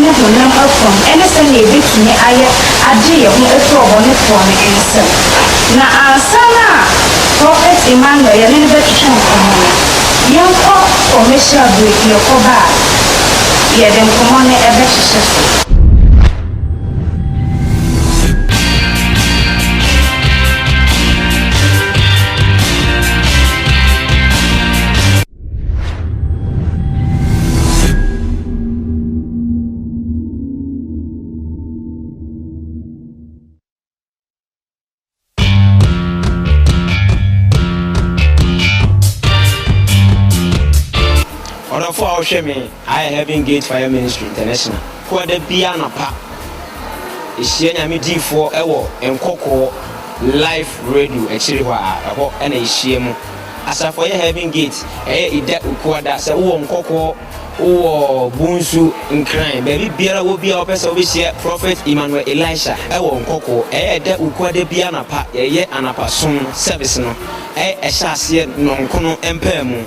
ne honam fam ne sɛnea yebetumi ayɛ agye yɛn ho afi ɔbɔnefoɔ no nsam. Na ansa na Prɔfɛt Emmanuel yɛne no bɛtwetwe nkɔmmɔ no, yɛnkɔ commercial break, yɛkɔba a yɛde nkɔmmɔ no bɛhyehyɛ so. ɔdɔfo a ɔhwɛ me ayɛ heaven gate fire ministry international ko ɛda bia anapa ɛhyia nyame diifoɔ ɛwɔ nkɔkɔɔ life radio akyiri hɔ a ɛhɔ ɛna ɛhyia mu Asafo yɛ Heaven Gate, ɛyɛ Ida Ukua da. Sɛ wowɔ Nkɔkɔ, wowɔ Bonsu, Nkran, baabi biara wɔ biara wopɛ sɛ wobɛhyia Prophet Emmanuel Elisha wɔ Nkɔkɔ. Ɛyɛ Ida Ukua da biara anapa yɛyɛ anapa som service no. Ɛhyɛ aseɛ nnɔnkono mpaamu.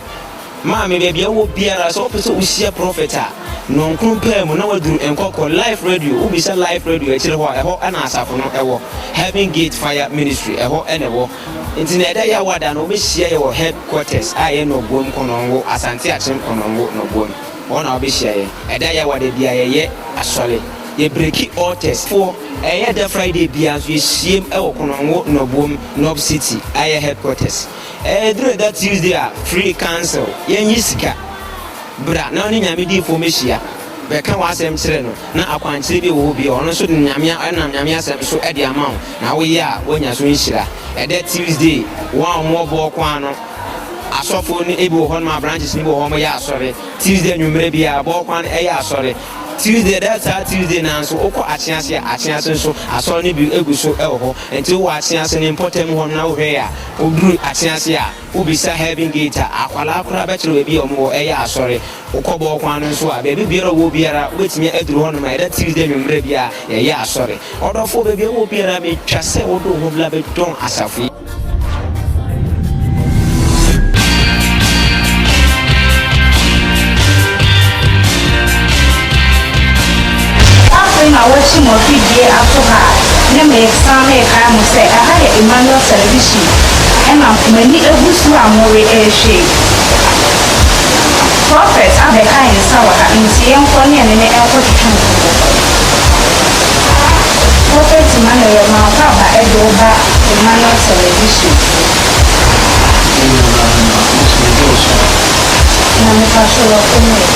Maame baabi a wowɔ biara sɛ wopɛ sɛ wohyia Prophet a, nnɔnkono mpaamu na waduru Nkɔkɔ. Life Radio, wobisa Life Radio akyire hɔ a ɛhɔ na asafo no wɔ. Heaven Gate Fire Ministry, ɛhɔ na ɛwɔ. Nti na ɛda Yawa da no wɔbɛhyia yɛ wɔ head quarters a ɛyɛ Nɔboam Konongo, Asante Akyem Konongo, Nɔboam. Hɔ na wɔbɛhyia yɛ. Ɛda Yawa da biara yɛyɛ asɔre. Yɛ breki altars foɔ. Ɛyɛ da Friday biara nso yɛhyiam wɔ Konongo, Nɔboam, Nɔb City a ɛyɛ head quarters. Ɛduru ɛda Tuesday a free council, yɛnyi sika, bra na wo ne Nyame diifoɔ mmɛhyia. Bɛka w'asɛm kyerɛ no, na akwankyerɛ bi wɔ hɔ bi a ɔno nso de Nyame a ɔnam Nyame asɛm so de ama wo na woyɛ a woanya so nhyira. Ɛdɛ Tuesday, wɔn a wɔwɔ Bɔɔko ano, asɔfoɔ no ebi wɔ hɔ nom a branches no bi wɔ hɔ wɔyɛ asɔre. Tuesday anwummerɛ biara Bɔɔko ano ɛyɛ asɔre. Tuesday ɛda saa Tuesday no ara nso wokɔ Akyease a, Akyease nso asɔre no bi egu so wɔ hɔ. Nti wowɔ Akyease no mpɔtam hɔ nom na wohwɛe a, woduru Akyease a, Wobisa Heaven Gate a, akwadaa koraa bɛkyerɛ baabi a wɔwɔ, ɛyɛ asɔre. Wokɔ Bɔɔ Kwan no nso a, baabi biara a wɔwɔ biara, wobɛtumi aduru hɔnom a, ɛda Tuesday anwummerɛ biara, yɛyɛ asɔre. Ɔdɔfoɔ, baabi a wowɔ biara, metwa sɛ wode wo ho bla bɛdɔn asafo yi. Afei ma wɔakyi mo afidie ato ha a ne meresan merekae mo sɛ ɛha yɛ Emmanuel Television ɛna mo ani agu so a mo re ɛrehwɛ yi. Prophet abɛka yɛn nsa wɔ ha nti yɛnkɔ ne ɛne no nkɔ twetwe nkɔmmɔ. Prophet Emmanuel mankɔ aba ɛde wo ba Emmanuel Television. Yɛn nyinaa na mɛtumi de wo so. Nyame pakyɛw wɔ fam o.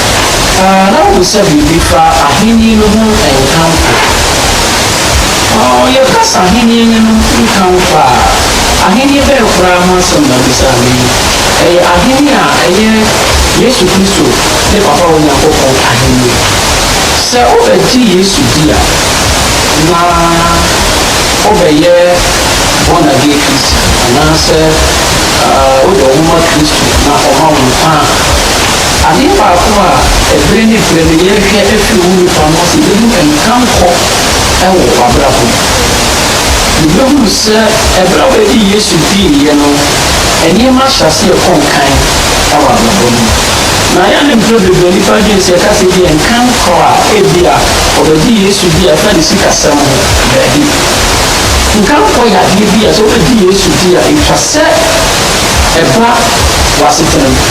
a na wohu sɛ biribi fa Ahenni no ho nkamfo. Yɛka sɛ Ahenni no no nkamfo a, Ahenni bɛn koraa ho asɛm na wubisa nnɛ yi? Ɛyɛ Ahenni a ɛyɛ Yesu Kristo ne Papa Onyankopɔn Ahenni. Sɛ wobɛgye Yesu di a, na wobɛyɛ born-again Christian, anaasɛ wode wo ho ma Kristo na ɔma wo nkwa a. Adeɛ baako a ɛberɛ ne berɛ no yɛhwɛ firi wo nipa no ase bɛhu nkankɔ wɔ w'abrabɔ mu. Yɛbɛhunu sɛ ɛberɛ a wɔde Yesu diiɛ no, nneɛma ahyɛ aseɛ kɔ nkan wɔ abrabɔ no mu. Na ɛyɛ a na mprɛ bebree nnipa adwene sɛ yɛka sɛ ebia nkankɔ a ebia wɔbɛgye Yesu di a ɛfa ne sikasɛm ho, daabi. Nkankɔ yɛ adeɛ bi a sɛ wobɛgye Yesu di a ɛtwa sɛ ɛba w'asetena mu.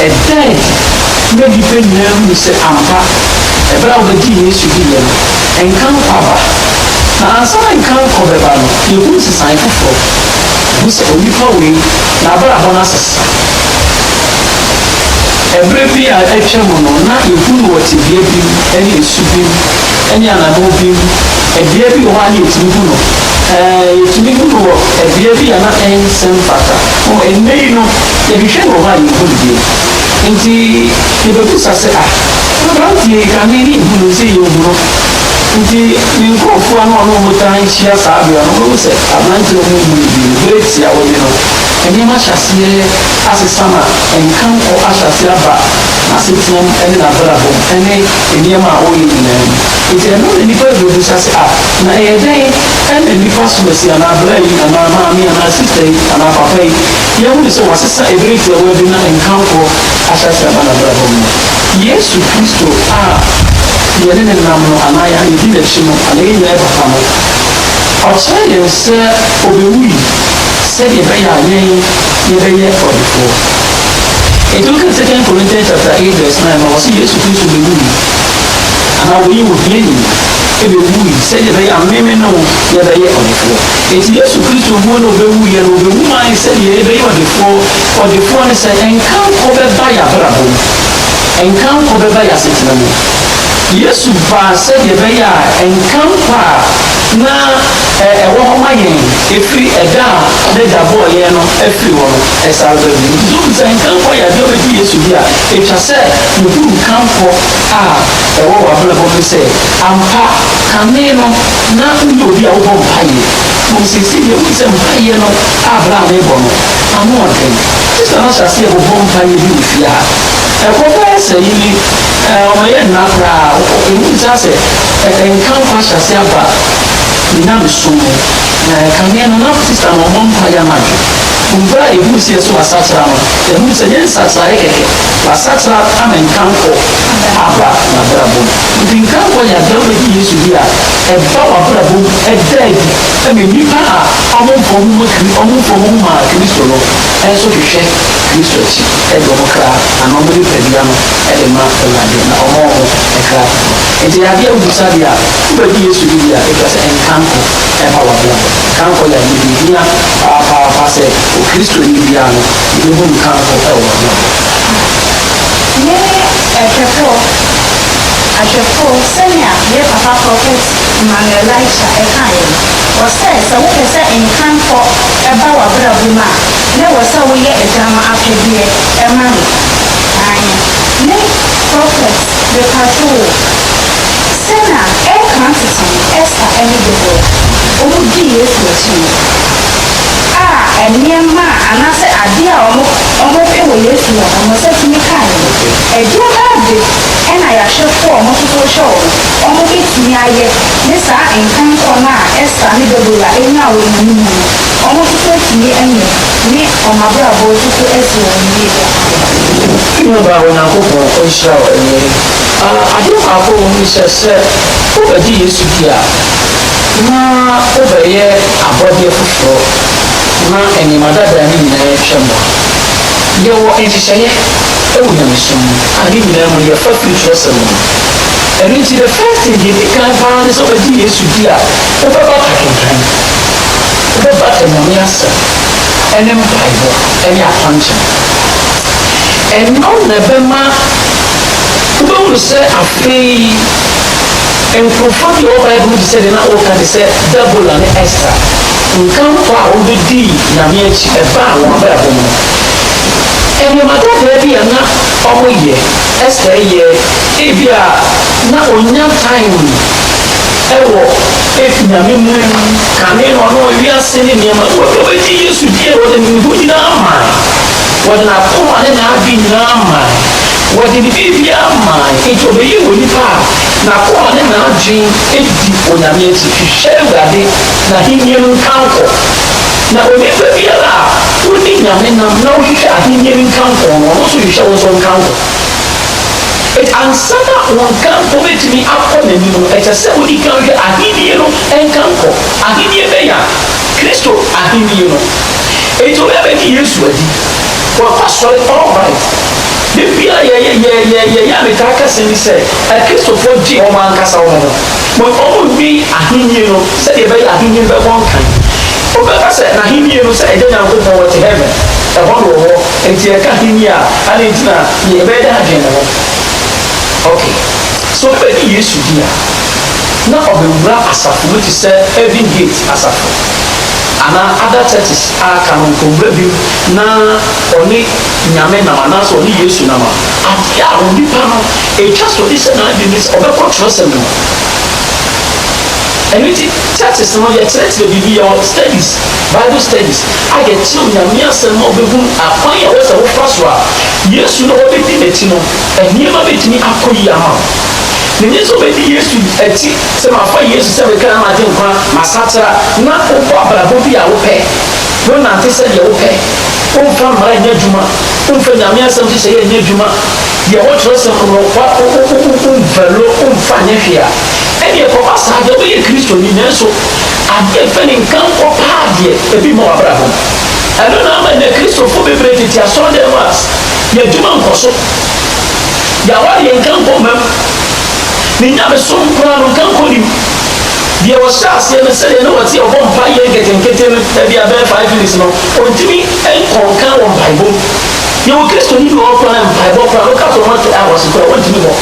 Ɛdɛn ma nnipa nyinaa hu sɛ ampa bere a wɔbegyee Yesu diiɛ no, nka nkwa aba? Na ansa na nka nkwa bɛba no, yɛhu nsesae foforɔ. Yɛhu sɛ onipa wei, n'abrabɔ no asesa. Ɛberɛ bi a atwam no, na yɛhu no wɔ tebea bi mu, ne su bi mu, ne anammɔn bi mu. Ɛbea bi wɔ hɔ a na yɛtumi hu no. Ɛɛ, yɛtumi hu no wɔ ɛbea bi a na nsɛm fata. Mmom ɛnnɛ yi no, Yɛhwehwɛ no wɔ hɔ a yɛnhu no bio. Enti yɛbɛbisa sɛ, Ah, aberanteɛ yi, kane yɛnhu no, ɛsei yɛahu no. Enti ne nkurɔfoɔ a na ɔne wɔn taa hyia saa berɛ no, wɔbɛhu sɛ aberanteɛ a wɔnhu no bio no, berɛ tiaa wɔnye no. Nneɛma ahyɛ aseɛ asesa ma nkankɔ ahyɛ aseɛ aba n'asetenam ne n'abrabɔm ne nneɛma a ɔreyɛ nyinaa mu. Enti ɛno na nnipa rebɛbisa sɛ, Ah, na ɛyɛ dɛn na nnipa som asi anaa bra yi anaa maame anaa sista yi anaa papa yi Yɛahu sɛ wɔasesa Eberi tiawa bi na nkamfo ahyɛase aba n'abrabɔ mu. Yesu Kristo a yɛne no nam no anaa yɛn a yedi n'akyi no anaa yɛn nyinaa papa no, ɔkyerɛɛ yɛn sɛ obewui sɛnea ɛbɛyɛ a yɛn yɛbɛyɛ ɔdefoɔ. Enti wokan Second Corinthians chapter eight verse nine no a, wɔse Yesu Kristo bewui anaa wɔyii ohiani bewui sɛnea ɛbɛyɛ a me me ne wo yɛbɛyɛ ɔdefoɔ. Enti Yesu Kristo wuo no ɔbɛwuiɛ no ɔbɛwu maa yɛn sɛdeɛ yɛbɛyɛ ɔdefoɔ, ɔdefoɔ ne sɛ nkankɔ bɛba yɛn abrabɔ mu, nkankɔ bɛba yɛn asetena mu. Yesu baa sɛdeɛ ɛbɛyɛ a nkankɔ a na ɛwɔ hɔ ma yɛn ɛfiri ɛda a N'agya bɔɔ yɛn no afiri hɔ no ɛsare ba bio. Nti sɛ wobu sɛ nkankɔ yɛ adeɛ a ɔbɛfiri Yesu deɛ a, ɛtwa sɛ wohunu nkankɔ a ɛwɔ w'abrabɔ mu no sɛ ampa kane no Ná woyɛ obi a wobɔ mpaeɛ. Mmom seesei deɛ, wohu sɛ mpaeɛ no a berɛ a merebɔ no, ano yɛ den. Gye sɛ mahyɛ aseɛ bobɔ mpaeɛ bi wɔ fie a, ɛkɔ bɛyɛ sɛ yi ne, ɛɛ, ɔma ɛyɛ nna koraa. Wohu saa sɛ ɛɛ, nkamfo ahyɛ aseɛ aba me nyamesom mu. Na ɛkame no, na sista no rebɔ mpaeɛ anadwo. Berɛ a yɛhunu sɛ yɛso asakyera no, yɛhunu sɛ ɛnyɛ nsakyeraeɛ kɛkɛ, wasakyera ama nkamfo aba n'abrabɔ mu. Enti Nkaefo yɛ asɔre bedi Yesu di a ɛba w'abrabɔ mu ɛda adi ma nnipa a wɔmfa wɔn ho ma Kri wɔmfa wɔn ho ma Kristo no nso hwehwɛ Kristo akyi de wɔn kra anaa wɔn nipadua no de ma Awurade na wɔma wɔn kra foforo. Enti ɛyɛ adeɛ a wobisa deɛ a wobɛgye Yesu di deɛ a ɛkyerɛ sɛ Nkaefo ɛba w'abrabɔ mu. Nkaefo yɛ adeɛ bi a ɛhia paapaapa sɛ Okristoni biara no yɛbɛhu Nkaefo wɔ w'abrabɔ mu. Ne ɛtwɛtoɔ. Ahwɛfo, sɛnea yɛn papa Prɔfɛt Emmanuel Laisha kaeɛ no, ɔsɛ sɛ wopɛ sɛ nkankɔ ba w'abrabɔ mu a, na ɛwɔ sɛ woyɛ Agya no apɛdeɛ ma no. Aane. Me Prɔfɛt, mepatwo wo, sɛ na ɛreka tete no, Esther ne Deborah, wɔn dii Yesu akyi no, a nneɛma a, anaasɛ adeɛ a wɔn, wɔn pɛ wɔ Yesu hɔ no, wɔn nsa tumi kaeɛ no. Ɛduru bɛn de na yɛahwɛfoɔ a ɔmo nso so hwɛ ɔmo, ɔmo bɛtumi ayɛ ne saa nkankɔ no a Ester ne Debora nyaa wɔ nnommum mu no, ɔmo nso so atumi anya ne ɔmo abrabɔ nso so asi wɔn yie paa? Nnuaba a Onyankopɔn nhyira wɔ awiei a adeɛ baako wɔ mu ne sɛ, sɛ wobɛgye Yesu di a, na wobɛyɛ abɔdeɛ foforɔ na nneɛma dada no nyinaa atwam a, yɛwɔ nhyehyɛeɛ wɔ nyamesom mu a ne nyinaa mu no yɛfa firi twerɛsɛm no mu. Ɛno nti the first thing deɛ ɛdi kan paa ne sɛ wobɛgye Yesu di a wobɛbata kenkan, wobɛbata Nyame asɛm ɛne mpaebɔ ɛne akwankyɛn. Ɛno na ɛbɛma wobɛhunu sɛ afei nkorɔfoɔ bi a ɔwɔ Bible mu te sɛ deɛ na woka te sɛ Debola ne Esther nkankɔ a wɔbɛdii Nyame akyi ɛbaa wɔn abrabɔ mu no, Nneɛma tɛtrɛɛ bi a na wɔyɛ. Esther yɛ. Ebia na onya time wɔ Nyame mu kane no, ɔno wiase ne nneɛma no. Wɔde wɔagye Yesu di a, wɔde ne ho nyinaa mae. Wɔde n'akoma ne n'adwene nyinaa mae. Wɔde ne biribiara mae. Enti ɔbɛyɛɛ onipa a n'akoma ne n'adwene di Onyame akyi, hwehwɛ Awurade, N'ahenni no nkankɔ. Na onipa biara a odi Nyame nam na ɔhwehwɛ ahenni no nkamfo no, ɔno nso hwehwɛ wo nso nkamfo. Enti ansa na wo nkamfo bɛtumi akɔ n'anim no, ɛsɛ sɛ wodi kan hwɛ ahenni no nkamfo. Ahenni bɛn a? Kristo ahenni no. Enti obi abɛgye Yesu adi, wakɔ sɔre, all right. Da biara yɛ, yɛ, yɛ, yɛ, yɛ, yɛ a metaa ka asɛm bi sɛ, Akristofoɔ gye wɔn ankasa wɔn ho. Ma wɔnnwen Ahenni no sɛdeɛ ɛbɛyɛ a Ahenni no bɛbɔ nkan. Wobɛka sɛ, N'Ahenni no sɛ Agya Nyankopɔn ɔte Heaven, ɛhɔ na ɔwɔ, enti yɛka Ahenni a, adɛn nti na yɛbɛyɛ dɛ adwene ne ho? Ok, sɛ obi bɛgye Yesu di a, na ɔbɛwura asafo bi te sɛ Heaven Gate Asafo, anaa other churches a aka no, nkɔwura bi mu na ɔne Nyame nam anaasɛ ɔne Yesu nam a, adeɛ a onipa no Etwa to de hyɛ n'adwene mu sɛ ɔbɛkɔ twerɛsɛm no mu. Ɛno nti, thesis no, yɛkyerɛkyerɛ biribi, yɛwɔ studies, Bible studies, a yɛkyerɛ wo Nyame Asɛm ma wobɛhunu akwan a ɛwɔ sɛ wofa so a Yesu na wobɛdi n'akyi no, nneɛma bɛtumi akɔ yie ama wo. Menye sɛ wobɛdi Yesu akyi, sɛ mafa Yesu sɛ me kra, m'agyenkwa, m'asakyera, na wobɔ abrabɔ bi a wopɛ, wonante sɛdeɛ wopɛ, womfa mmara nyɛ adwuma, womfa Nyame Asɛm nhyehyɛeɛ nyɛ adwuma, Sɛ yɛwɔ twerɛsɛm no fa womfɛlo womfa nyɛ hwee a, ɛnneɛ kɔba saa deɛ woyɛ Kristoni nanso adeɛ mfa ne nka nkɔ paa deɛ ebi mma w'abrabɔ mu. Ɛno na ama nnɛ Kristofoɔ bebree tete asɔredan mu a y'adwuma nkɔ so, y'awareɛ nka nkɔ mma mu, ne nyamesom koraa no nka nkɔ ne mu. Deɛ ɔhyɛ aseɛ no sɛdeɛ na ɔte a ɔbɔ mpaeɛ nketenkete no, ɛbia bɛyɛ five minutes no, ɔntumi nkɔ nka wɔ mpaebɔ mu. Yɛwɔ Kristoni bi a ɔmfa ne mpaebɔ koraa, no ka sɛ ɔte Aawase koraa a, ɔntumi mmɔ.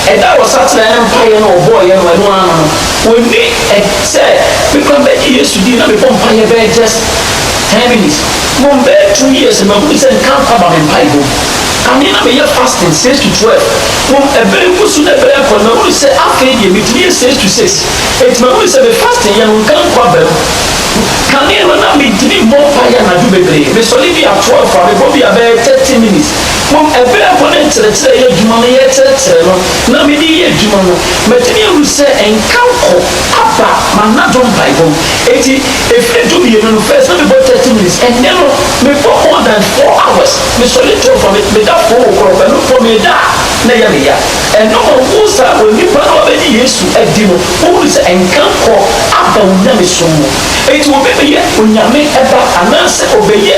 Ɛda a ɔsakyeraɛ ne mpaeɛ no a ɔbɔeɛ no, ɛno ara no, ɔnni ɛ, sɛ mekɔ mɛgye Yesu din na mebɔ mpaeɛ bɛyɛ just ten minutes, mmom bɛyɛ two years no mahunu sɛ nkankɔ aba me mpaebɔ mu. Kane na meyɛ fasting six to twelve, mmom ɛberɛ rekɔ su na ɛberɛ rekɔ no, mahunu sɛ afei deɛ metumi yɛ six to six, enti mahunu sɛ me fasting yɛ no nkankɔ aba mu. Kane no na me tumi bɔ mpaeɛ anadwo bebree. Me sɔre bi a twelve a me bɔ bi a bɛyɛ thirty minutes. Mmom ɛberɛ mpo ne nkyerɛkyerɛ yɛ adwuma no yɛ kyerɛkyerɛ no na me de yɛ adwuma no. Matumi ahunu sɛ nkanko aba m'anadwo mpaebɔ mu. Enti ɛfiri du mmienu no first na me bɔ thirty minutes. Ɛnnɛ no me bɔ more than four hours. Me sɔre twelve a me da four o'clock, ɛno mpo me da a na ɛyɛ me ya. Ɛno ma wohu sɛ onipa no a obegye Yesu adi no, wohu no sɛ nkankɔ aba onyamesom mu. Enti obebɛyɛ onyame ba anaasɛ obɛyɛ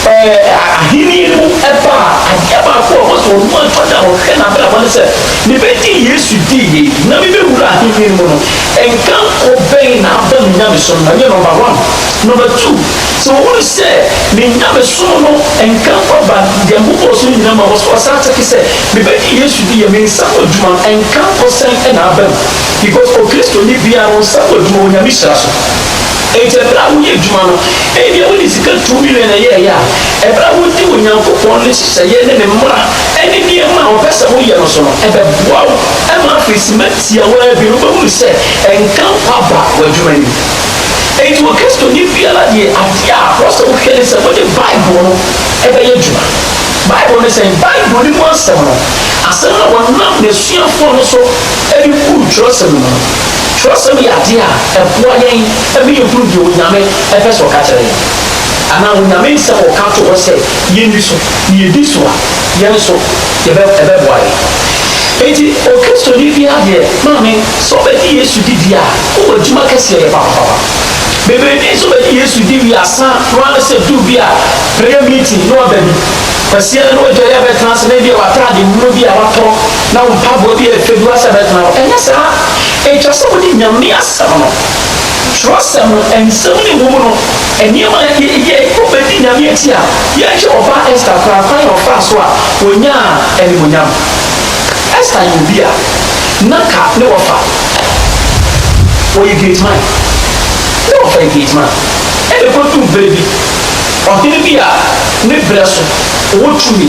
ahenni no mu ba a, adeɛ baako a ɔwɔ sɛ ɔno ara da a ɔhwɛ n'abrabɔ ne sɛ, Mebɛgye Yesu di yie na mebɛwura ahenni no mu no, nkankɔ bɛn na aba me nyamesom no mu? Ɛnyɛ nɔmba one. Nɔmba two, sɛ ɔhu no sɛ ne nyamesom no nkankɔ aba, deɛ Nyankopɔn som nyinaa ma ɔsan teke sɛ, Mebɛgye Yesu di yɛ me nsa ano adwuma nka mpo sɛn na aba mu because Okristoni biara no nsa ano adwuma wɔ Nyame hyira so. Enti ɛberɛ a woyɛ adwuma no, ebia wode sika two million na ɛyɛɛeɛ a, ɛberɛ a wodi Onyankopɔn ne nhyehyɛeɛ ne ne mmara ne nneɛma a ɔpɛ sɛ woyɛ no so no, ɛbɛboa wo ma afei simma tiawaa bi no wobɛhunu sɛ nka mpo aba w'adwuma no mu. Enti Okristoni biara deɛ adeɛ a ɛwɔ sɛ wohwɛ ne sɛ wode Bible no bɛyɛ adwuma. Bible ne sɛn? Bible no mu asɛm no, asɛm a wɔnam n'asuafoɔ no so de buu twerɛsɛm no mu no, twerɛsɛm yɛ adeɛ a ɛboa yɛn ma yɛhunu deɛ Onyame pɛ sɛ ɔka kyerɛ yɛn, anaa Onyame nsɛm a ɔka too hɔ sɛ yɛnni so no, yɛdi so a, yɛn nso yɛbɛ, ɛbɛboa yɛn. Enti Okristoni biara deɛ, maame, sɛ wobɛgye Yesu di deɛ a, wowɔ adwuma kɛseɛ yɛ papapapa. Bebree nso bɛgye Yesu di wie a, asa no ara ne sɛ duru bi a, Prayer meeting na waba bi. Kwasia no na w'adwareɛ abɛtena ase na ebia w'ataade nwunu bi a w'atɔ na wo mpaboa bi a ɛfɛ bi w'asɛ bɛtena hɔ. Ɛnyɛ saa. Ɛtwa sɛ wode Nyame asɛm no, twerɛsɛm no, nsɛm ne wɔ mu no, nneɛma a yɛ yɛ kɔ bɛdi Nyame akyi a, yɛnhwɛ ɔbaa Esther koraa kwan a ɔfaa so a ɔnyaa animuonyam. Esther yɛ obi a na nka ne wɔfa ɔyɛ great man, ne wɔfa yɛ great man ɛna ɛkɔduu berɛ bi. Ɔhene bi a ne berɛ so, ɔwɔ tumi,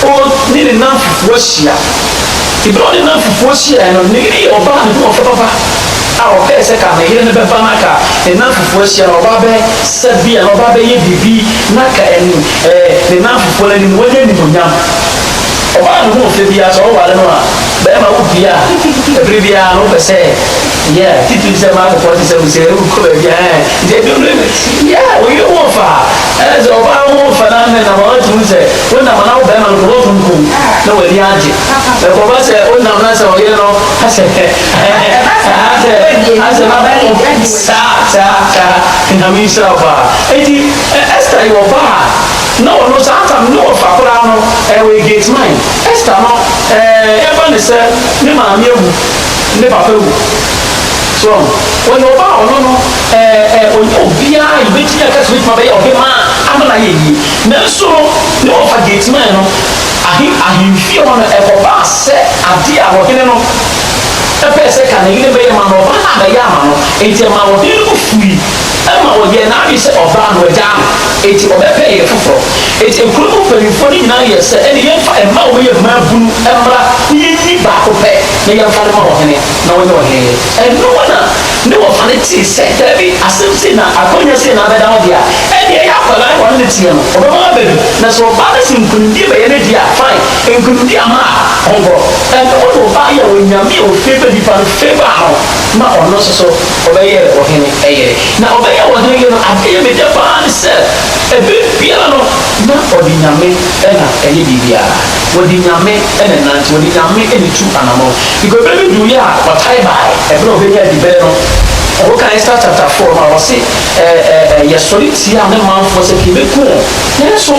on ne ne nnamfefoɔ ahyia. Berɛ a ɔne nnamfefoɔ hyiaeɛ no, ne yere yɛ ɔbaa ahoɔfɛ papa a ɔpɛɛ sɛ ka ne yere no bɛba na ka ne nnamfefoɔ ahyia na ɔba bɛ sa bi anaa ɔba bɛyɛ biribi na ka ɛn ɛɛ ne nnamfefoɔ no anim na wanya animuonyam. Ɔbaa no ho nfɛ biara sɛ ɔware no a, bɛrima wo dua a, ɛberɛ biara no wopɛ sɛ. Yeah, titiri sɛ maa kɔkɔɔ te sɛ mo sɛ ɛrekɔ baabi a ɛɛ nti ɛdwom no yɛ yeah wo yere ho fa ɛɛ sɛ ɔbaa ho fa na ne nam ɔte mu sɛ wo nam na wo bɛrima no kɔbɔ funkum na w'ani agye ɛkɔba sɛ wo nam na sɛ ɔyere no asɛ hɛ ɛɛ asɛ asɛ na bɛn saa saa saa nyame nhyira wo paa eti Esther yɛ ɔbaa a na ɔno saa tam ne ɔfa koraa no ɛwɔ gate mine Esther no ɛɛ yɛba ne sɛ ne maame awu ne papa wu so wahu wɔyɛ ɔba a ɔno no ɛɛ ɛɛ ɔnyɛ obiara a yɛbɛtumi aka sɛ ɔbɛtumi abɛyɛ ɔbemaa ama no ayɛ yie nanso no ne ɔfa Gethsemane no ahe ahemfie hɔ no ɛkɔbaa sɛ adeɛ a ɔhene no ɛpɛɛ sɛ ka ne yere bɛyɛ ma no ɔba no abɛyɛ ama no enti ɛma ɔhene no bo fui ɛma ɔyɛɛ n'adwene sɛ ɔbaa no agyaa no enti ɔbɛpɛ yere foforɔ enti nkuro mu mpanimfoɔ no nyinaa yɛɛ sɛ ɛne yɛmfa mmaa a wɔyɛ mmaabunu mmra na yɛnni baako pɛ na yɛmfa no ma ɔhene na ɔnyɛ ɔhene. Ɛno mu na ne wɔfa no tee sɛ, Dabi, asɛm sei na akwannya sei na abɛda wo dea, ɛnneɛ yɛ akwadaa ne wɔne no teɛ no, ɔbɛma wo aba bi, na sɛ ɔba na sɛ nkonimdie bɛyɛ ne dea a, fine, nkonimdie amma a, ɔnkɔ. Ɛno mu na ɔbaa yɛ Onyame a ɔfiri pɛ nipa no fɛ baa no ma ɔno nso so ɔbɛyɛɛ ɔhene yere. Na ɔbɛyɛɛ ɔhene yere no, adeɛ a ɛyɛ me dɛ pa ara ne sɛ, ɛberɛ biara no, na ɔde Nyame na ɛyɛ biribiara. Wɔde Nyame na ɛnante, wɔde Nyame na etu anamɔn. Because bere bi duruiɛ a, ɔtae bae, ɛberɛ a ɔbɛnya adibɛn no. Wokan Esta chapter four no a, ɔse, Ɛ, ɛ, ɛ, yɛsɔre tiaa me manfoɔ sɛ kei bɛku wɔn, nanso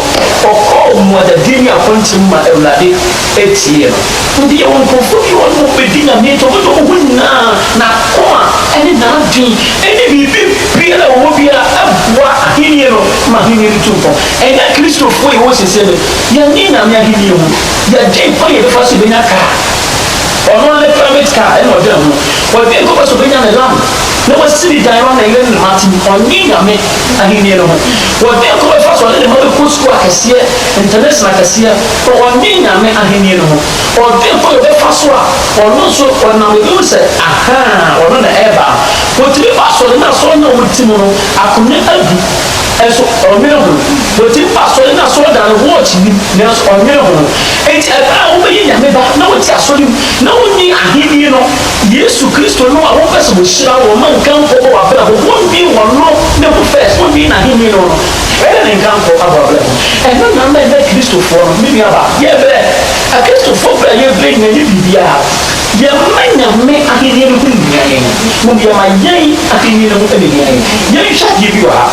ɔkɔɔ mmuadadie ne akonta mu ma Awurade tiee no. Wɔde yɛ wɔn nkurɔfoɔ bi a wɔne wɔn bɛdi Nyame nti, wɔbɛdɔ wɔn ho nyinaa, n'akoma ne n'adwen ne biribi biara a wɔwɔ biara boa Ahennie no ma Ahennie no tu mpɔn. Ɛnyɛ Akristofoɔ a yɛwɔ seesei no Yɛnnye Nyame Ahenni ho, yɛdwen kwan a yɛbɛfa so yɛbɛnya kaa. Ɔno ara ne private car ɛna ɔdwen ho. Ɔdwen kwan sɛ ɔbɛnya ne land na wasi ne dan hɔ na yere ne mma ate mu. Ɔnnye Nyame Ahenni no ho. Ɔdwen kwan a ɔbɛfa so ɔne ne mma bɛkɔ sukuu akɛseɛ, internation akɛseɛ, but ɔnnye Nyame Ahenni no ho. Ɔdwen kwan a ɔbɛfa so a ɔno nso ɔnam ɛbɛhu sɛ ahaa ɔno na ɛreba no. Wɔtumi ba asɔre na asɔre no a wɔte mu no akonnwa adu. Nso ɔnnwene ho. Wɔtumi fa asɔre ne asɔredan no watch nnim, nanso ɔnnwene ho. Enti ɛberɛ a wobɛyɛ Nyame ba na wote asɔre mu na wonni ahennie no, Yesu Kristo nom a wopɛ sɛ wɔhyira wo, ma nkamfoɔ bɔ w'abrabɔ mu, wonni Ɔno ne ho first, wonni N'ahennie no no, ɛne Ne nkamfoɔ abɔ abrabɔ mu. Ɛno na ama ɛnnɛ Kristofoɔ no, me nuabaa, yɛbrɛ. Akristofoɔ berɛ a yɛbrɛ nyinaa nyɛ biribiara. Yɛmma Nyame ahennie no ho nhia yɛn, mmom yɛma yɛn ahennie no ho na ɛhia yɛn. Yɛnhwɛ adeɛ bi wɔ ha.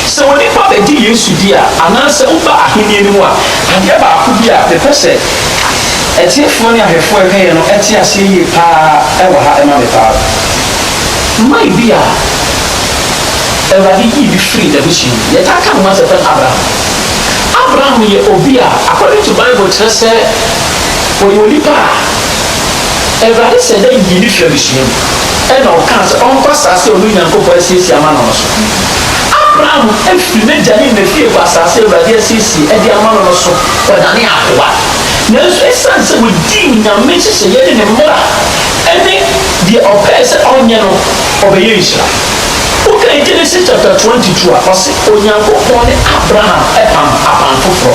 Sɛ onipa bɛgye Yesu di a, anaasɛ woba ahennie no mu a, adeɛ baako bi a mepɛ sɛ atiefoɔ ne ahwɛfoɔ a ɛka yɛn no te aseɛ yie pa ara wɔ ha ma me pa ara. Mma ebi a Awurade yii bi firii n'abusua mu. Yɛtaa ka ne ho asɛm frɛ no Abraham. Abraham yɛ obi a according to Bible kyerɛ sɛ Ɔyɛ onipa a Awurade hyɛ da yii no firi abusua mu na ɔkaa sɛ ɔnkɔ asaase a ɔno Nyankopɔn asiesie ama no no so. Abraham firi n'agya ne n'afiefo asaase a Awurade asiesie de ama no no so kɔdanee akoa. Nanso ɛsiane sɛ ɔdii Onyame nhyehyɛeɛ ne ne mmara ne deɛ ɔpɛɛ sɛ ɔnyɛ no, ɔbɛyɛɛ nhyira. Wokan Genesis chapter 22 a, ɔse Onyankopɔn ne Abraham pam apam foforɔ.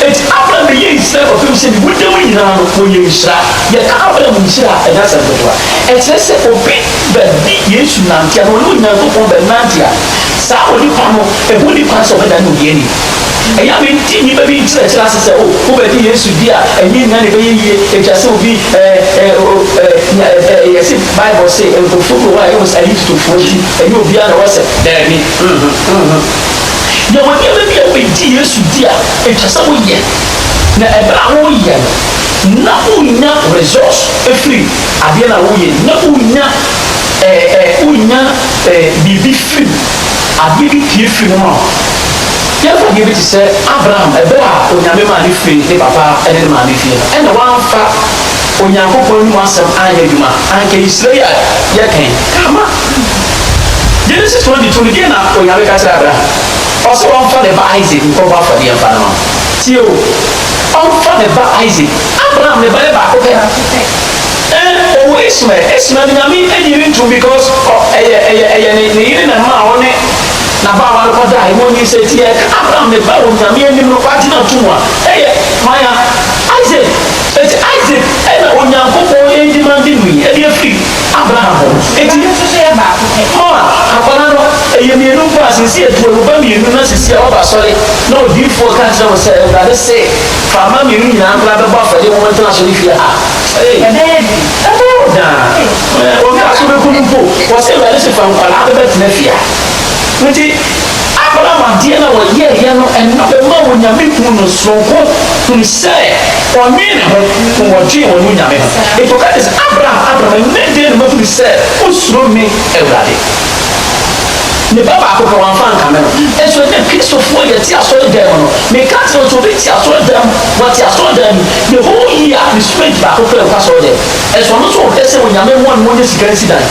Enti Abram bɛyɛɛ Israel ɔpem sɛ ne wuda mu nyinaa no wɔyɛ nhyira. Yɛka Abram nhyira a, ɛnyɛ asɛm ketewa. Ɛkyerɛ sɛ obi bɛde Yesu nante anaa ɔne Onyankopɔn bɛnante a, saa onipa no, ɛho nni kwan sɛ ɔbɛdane ohiani. Ɛyɛ a mente nnipa bi nkyerɛkyerɛ ase sɛ, oh, wobɛgye Yesu di a, ɛnyɛ nyinaa na ɛbɛyɛ yie. Ɛtwa sɛ obi eh, eh, oh, eh, nya, eh, eh, yɛse Bible se, nkurɔfoɔ bi wɔ hɔ a ɛyɛ wɔn sɛ ayitotofoɔ nti, ɛnyɛ obiara na wɔsɛ, daabi, mm-hmm, mm-hmm. Yɛwɔ nneɛma bi a wobɛdi Yesu di a ɛtwa sɛ woyɛ, na ɛberɛ a woreyɛ no, na wonya results firi adeɛ no a woreyɛ no mu, na wonya ɛɛ ɛɛ wonya ɛɛ biribi firi mu, adeɛ bi pue firi mu ma wo. Yɛmfa adeɛ bi te sɛ Abraham, ɛberɛ a Onyame maa no firii ne papa ne ne maame fie no, ɛnna wamfa Onyankopɔn anom asɛm anyɛ adwuma, anka Nhyira yi a yɛka yi, ka ma. Genesis twenty two no, deɛn na Onyame ka kyerɛɛ Abraham? Ɔse ɔmfa ne ba Isaac nkɔbɔ afɔdeɛ mfa no ma me. Tie o, ɔmfa ne ba Isaac. Abraham ne ba yɛ baako pɛ ara. Ɛn, ɔwɔ Ismael, Ismael no Nyame nnye no ntom because ɔ, ɛyɛ, ɛyɛ, ɛyɛ ne, ne yere na ɛmaa ɔne n'abaawa no kɔdaeɛ ma ɔnyinsɛn. Nti yɛreka Abraham ne ba a Onyame anim no, wagyina atom a, ɛyɛ hwan a? Isaac. Nti Isaac na Onyankopɔn ɛndimande no yi, ɛde afiri. Abraham hɔ no, enti ne nso so yɛ baako pɛ. Mama, akwadaa no, ɛyɛ mmienu nko ara, seesei atu awu ba mmienu, na seesei a waba asɔre, na odiyifoɔ ka kyerɛ wo sɛ, Awurade se, Fa mma mmienu nyinaa nkora bɛbɔ afɔdeɛ ma wɔntena asɔre fie ha. Ei! Ɛbɛyɛ den. Ɛbɛyɛ wo den ara. Obi a so bɛku no mpo, wɔse Awurade se fa nkwadaa bɛbɛtena fie ha. Nti. Abraham adeɛ no a ɔyɛeɛ no, ɛno bɛmaa Onyame huu no sononko, hunu sɛ ɔnwee ne ho, na ɔdwee ɔne Onyame ho. Enti ɔka kyerɛɛ sɛ, Abraham, Abraham, ɛnnɛ deɛn na mahunu sɛ wosuro me Awurade. Ne ba baako pɛ, wamfa ankame no. Nso ɛnnɛ, Kristofoɔ, yɛte asɔredan mu no, meka kyerɛ wo sɛ obi te asɔredan mu, wate asɔredan mu, the whole year, ne student baako pɛ nkɔ asɔredan mu. Nso ɔno nso ɔpɛ sɛ Onyame mmoa no ma ɔnya sika nsi dan.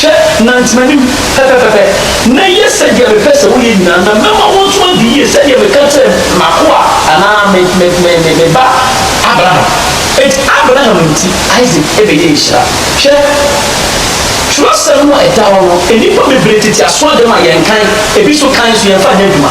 Hwɛ, nante m'anim pɛpɛpɛpɛ, na yɛ sɛdeɛ mepɛ sɛ woyɛ nyinaa, na mɛma wo nso adi yie, sɛdeɛ meka kyerɛɛ m'akoa, anaa me me me me me ba Abraham. Enti Abraham nti, Isak bɛyɛɛ nhyira. Hwɛ, twerɛsɛm no a ɛda hɔ no, nnipa bebree tete aso agyam a yɛnkan, ebi nso kan nso yɛmfa nyɛ adwuma.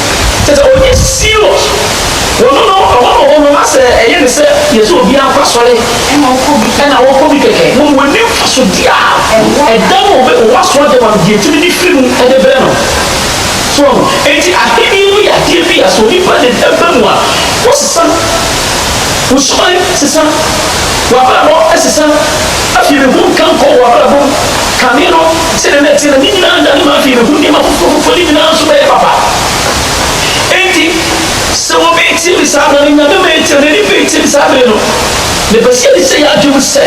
Kyerɛ sɛ ɔnyɛ serious wɔ no no ɛhɔ no hɔ no na sɛ ɛyɛ ne sɛ yɛsɛ obiara nkɔ asɔre ɛna ɔkɔ bi ɛna ɔkɔ bi kɛkɛ na ɔnni mfasodeɛ a ɛda no ɔbɛ ɔwɔ aso adeɛ ma no deɛ ɛtumi de firi mu ɛde brɛ no so ɔho ɛnti ahennie no yɛ adeɛ bi a sɛ onipa de ɛba mu a wosesa wo suban sesa w'abrabɔ ɛsesa. Afei me ho nka nkɔ wɔ abrabɔ mu. Kane no, sɛdeɛ na ɛteɛ no, ne nyinaa nnane ma afei me ho nneɛma foforɔ foforɔ no nyinaa nso bɛyɛ papa. Enti, sɛ wɔbɛtie me saa berɛ no, Nyame ma yɛtie no, N'ani bɛtie me saa berɛ no. Mepɛ sɛ yɛde hyɛ yɛn adwene mu sɛ,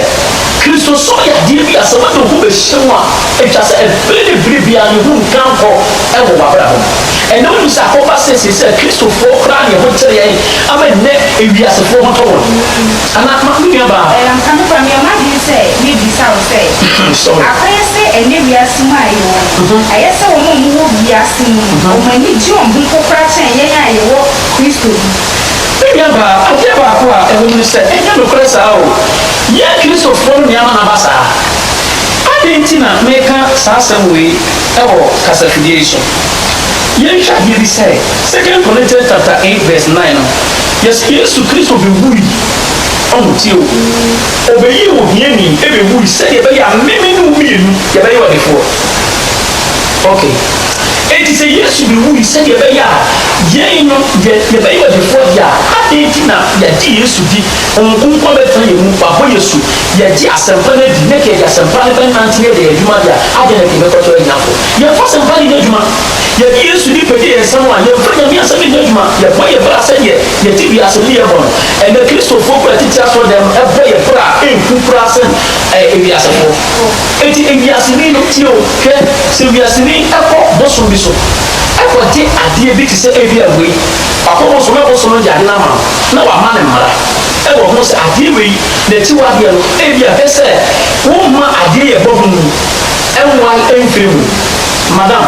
Kristosom yɛ adeɛ bi a sɛ wode wo ho bɛhyɛ mu a, ɛtwa sɛ ɛbere ne bere biara ne ho nka nkɔ wɔ w'abrabɔ mu. Ɛnnɛ wonim sɛ akɔba seesei sɛ Kristofoɔ koraa ne ɛho kyere yɛn ama nnɛ ewiasefoɔ ho tɔ wɔn. Anaa, Ma me nuabaa. Ɛɛ, ampa nokwar, meyɛ m'adwen sɛ mebisa wo sɛ, akɔyɛ sɛ ɛnnɛ wiase mu a yɛwɔ no, ayɛ sɛ wɔn a wɔwɔ wiase mu no, wɔn ani gye wɔn ho nkokora kyɛn yɛn a yɛwɔ Kristo mu? Me nuabaa, adeɛ baako a ɛwɔ mu ne sɛ, ɛnyɛ nokorɛ saa o. Yɛn Kristofoɔ no nneɛma aba saa. Adɛn nti na meka saa asɛm wei wɔ kasafidie yi so? Yɛnhwɛ adeɛ bi sɛ, Second Corinthians chapter eight verse nine no, Yes, Yesu Kristo bewui a wotie wo. Obeyii ohiani bewui sɛnea ɛbɛyɛ a me me ne wo mmienu yɛbɛyɛ ɔdefoɔ. Ok, enti sɛ Yesu bewui sɛnea ɛbɛyɛ a yɛn no yɛ yɛbɛyɛ ɔdefoɔ deɛ a, adɛn nti na yɛagye Yesu di, Honhom Kronkron abɛtena yɛn mu, wabɔ yɛn asu, yɛagye asɛmpa no adi, na nka yɛde asɛmpa no bɛnante na yɛde yɛn adwuma deɛ a, adɛn na nka yɛbɛkɔtɔ ahiafoɔ? Yɛmfa asɛmpa no nyɛ adwuma. Yɛde Yesu din pagya yɛn nsa mu a, yɛmfa Nyame asɛm nyɛ adwuma, yɛbɔ yɛn bra sɛdeɛ yɛte wiase nneyɛɛ bɔ no. Ɛnnɛ Kristofoɔ kura tete asɔrdan mu bɔ yɛn bra a ɛnku koraa sen ewiasefoɔ. Enti ewiaseni no tie o, hwɛ, sɛ wiaseni kɔ bosom bi so kɔgye adeɛ bi te sɛ ebia wei, wakɔ bosom na bosom no de ade no ama no na wama no mmara wɔ ho sɛ adeɛ wei n'akyiwadeɛ no ebia hwɛ sɛ womma adeɛ yɛbɔ ho mu nwae mfiri mu. Madam,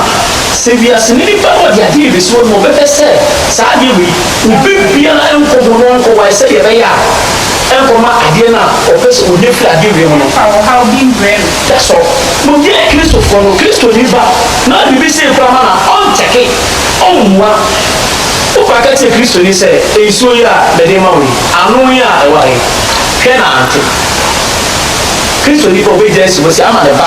sɛ wiase no nnipa no wɔde adeɛ rebɛsi hɔ no wɔbɛpɛ sɛ saa adeɛ wei obi biara nkɔ mu na ɔnkɔwae sɛdeɛ ɛbɛyɛ a ɛnkɔma adeɛ no a ɔpɛ sɛ ɔnya firi adeɛ wei ho no Fa ɔhaw bi mbrɛ no. That's all. Wɔwiae Kristofoɔ no, Kristoni ba no a biribi sei koraa ma no a, ɔnkyɛke, ɔmmua. Woba ka kyerɛ Kristoni sɛ, Nsuo yi a mede rema wo yi, ano yi a ɛwɔ ha yi, hwɛ na ante. Kristoni ba a, ɔbɛgyae asi hɔ sɛ ama ne ba.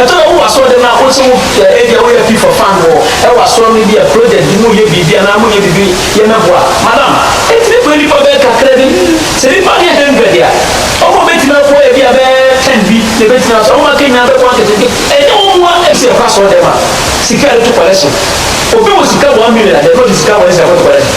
Ɛtɔ da bi wɔ asɔrdan mu a, wo nso wo ɛ, ebia woyɛ FIFA fan wɔ ɛwɔ asɔr no bi a project bi mu yɛ biribi anaa mo yɛ biribi yɛ mɛboa. Madam, etumi kɔ nnipa bɛyɛ kakra bi, sɛ nnipa no yɛ hundred a, ɔmo a obetumi aboa yɛ ebia bɛyɛ ten bi na ebetumi aso, ɔmo a aka nyinaa bɛboa nketenkete. Ɛnyɛ wɔn mmoa ɛ. Sɛ yɛkɔ asɔrdan mu a, sika a yɛde to collection, obi wɔ sika one million a, yɛde ɔde sika wɔn nsa kɔ to collection.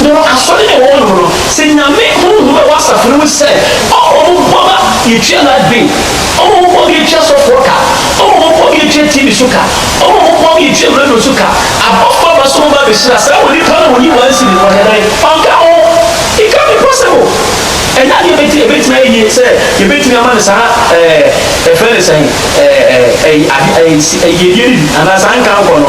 Wɔ asɔre a wɔwɔ no mu no, sɛ Nyame honhom a ɛwɔ asafo no mu te sɛ ɔma ɔmo bɔ ba yɛtua light bill, ɔma ɔmo bɔ ma yɛtua sɔfoɔ ka, ɔma ɔmo bɔ ma yɛtua TV so ka, ɔma ɔmo bɔ ma yɛtua radio so ka, abɔfoɔ aba so ɔmo ba bɛhyira saa onipa no a ɔnyi one cedi no, ɔyɛ dɛn? Ɔnka ho? It can't be possible! Ɛnyɛ adeɛ a ɛbɛtumi ayɛ yie sɛ yɛbɛtumi ama no saa ɛɛ yɛfrɛ no sɛn ɛɛ ɛɛ ɛyi ade ɛyi yiedie no bi anaa saa nkankɔ no.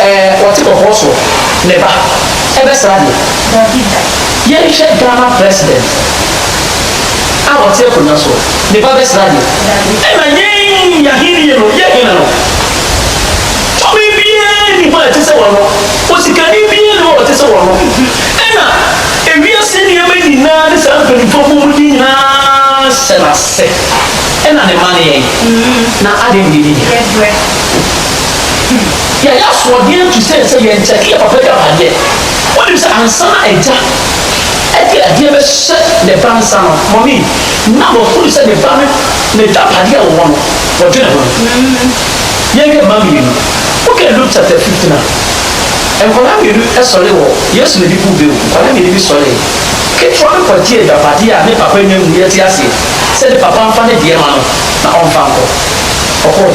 Ɛɛ ɔte kɔkɔɔ so ne ba ɛbɛsra deɛ. Dabi da. Yɛnhwɛ Ghana president a ɔte akonwa so ne ba bɛsra deɛ. Dabi. Ɛna yɛn yɛn ahennie no yɛ hena no tumi biara nni hɔ a ɛte sɛ ɔno, osikani biara nni hɔ a ɔte sɛ ɔno, ɛna ewiase nneɛma nyinaa ne saa mpanimfoɔ a wɔwɔ mu din nyinaa hyɛ n'ase, ɛna ne mma ne yɛn, na adɛn na yɛnni bi. Yɛbrɛ. Yɛayɛ asoɔden atu sɛ sɛ yɛn nkyɛn yɛ papa agyapadeɛ. Wonim sɛ ansa na agya de adeɛ bɛhyɛ ne ba nsa no, mɔmee, na wahunu sɛ ne ba no, n'agyapadeɛ a ɔwɔ no, ɔdwene ho. Yɛnhwɛ mma mmienu. Wokan Luke chapter fifteen a, nkwadaa mmienu sɔre wɔ Yesu n'adipuwbea mu. Nkwadaa mmienu bi sɔree. Ketewa no kɔgyee agyapadeɛ a ne papa nya mu. Yɛte aseɛ sɛ ne papa mfa ne deɛ mma no na ɔmfa nkɔ. Ɔkɔeɛ.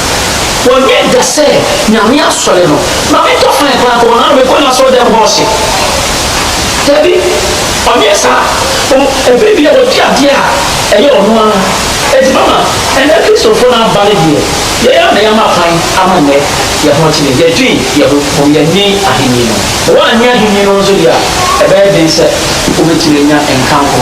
Wɔnyɛ da sɛ Nyame asɔre no. Ma me ntɔ fine paa kɔ hɔ na me kɔ n'asɔre dɛm hɔ ɔse dabi ɔnyɛ saa o ɛfiri bia ɔdi adeɛ a ɛyɛ ɔno ara ɛti mama ɛnɛ Christofoɔ no aba no deɛ yɛn ara na yɛama kwan ama nnɛ yɛn ho akyene yɛdwen yɛn ho mmom yɛnnwen ahennie no ho wɔ annwen ahennie no ho nso deɛ a ɛbɛyɛ den sɛ wobɛtumi anya nkanko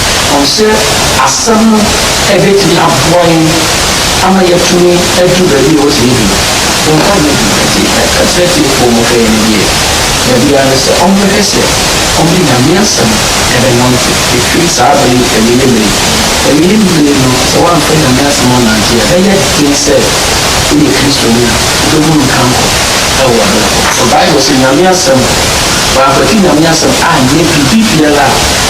Ɔkyerɛ asɛm no bɛtumi aboa yɛn ama yɛatumi adu baabi a ɔte no bi. Yɛnka no bi nti ka kyerɛ atiefoɔ no hwɛ ne deɛ dabi ara ne sɛ ɔmbɛhwɛ sɛ ɔde Nyame asɛm bɛnante ɛfiri saa berɛ yi awieɛ berɛ yi. Awieɛ berɛ no sɛ woamfa Nyame asɛm annante a ɛbɛyɛ den sɛ woyɛ Kristoni a wobɛhu no nkankɔ wɔ w'abrabɔ mu. Bible se Nyame asɛm, wankwati Nyame asɛm anyɛ biribi biara a.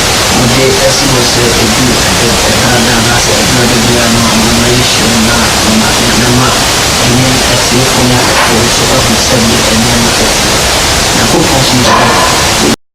Wode asi hɔ sɛ edu ɛdɛ ɛda da anaasɛ ɛduru ɛda biara no a nneɛma yi hyɛ mu na ama ɛbɛma ɛne atiefo no afoforo nso ahu sɛdeɛ nneɛma teteɛ. Nyankopɔn nso yɛ pɛ.